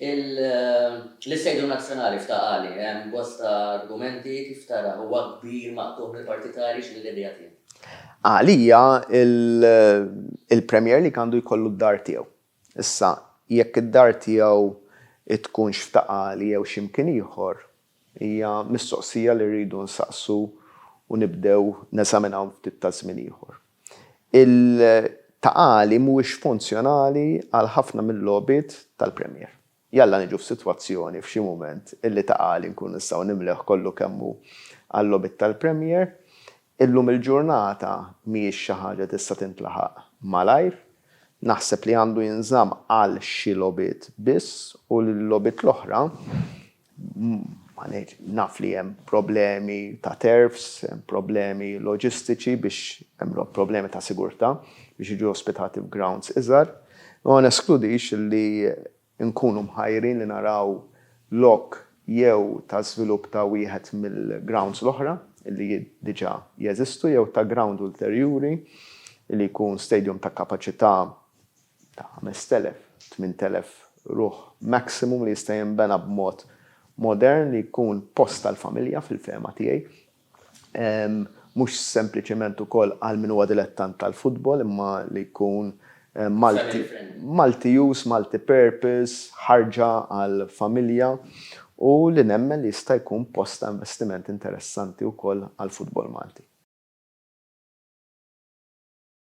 Il-Istadio Nazzjonali f'Ta' Qali hemm bosta argumenti kif tarah huwa kbir maqtugħ mill-Partit Ta' Għarix mill-idea tiegħu. Għalija il-Premier League għandu jkollu d-dar tiegħu. Issa jekk id-dar tiegħu tkunx f'Ta' Qali jew xi mkien ieħor Hija mistoqsija li rridu nsaqsu u nibdew neżaminaw ftit ta' żmien ieħor. Il-taqali mhuwiex funzjonali għal ħafna mil-logħbiet tal-Premier. Jalla niġu f'sitwazzjoni f'xi mument illi taqali nkunu nistgħu nimlewh kollu kemm hu għal-logħbiet tal-Premier. Illum il-ġurnata mhijiex xi ħaġa tista' tintlaħaq malajr. Naħseb li għandu jinżamm għal xi logħbiet biss u l-logħbiet l-oħra Ma ngħidx, naf li hemm problemi ta' terfs, hemm problemi loġistiċi biex hemm problemi ta' sigurtà biex jiġu ospitati f'grounds iżgħar. Imma ma neskludix li nkunu mħajrin li naraw lok jew ta' żvilupp ta' wieħed mill-grounds l-oħra li diġà jeżistu jew ta' ground ulterjuri li jkun stadium ta' kapaċità ta' 5,000, 8,000 ruħ maximum li jista' jinbena b'mod modern li jkun post għall-familja fil-fehma tiegħi. Mhux sempliċement ukoll għal min huwa dilettant tal-futbol imma li jkun multi multi use, multi purpose, ħarġa għall-familja u li nemmen li jista' jkun post ta' investiment interessanti wkoll għall-futbol Malti.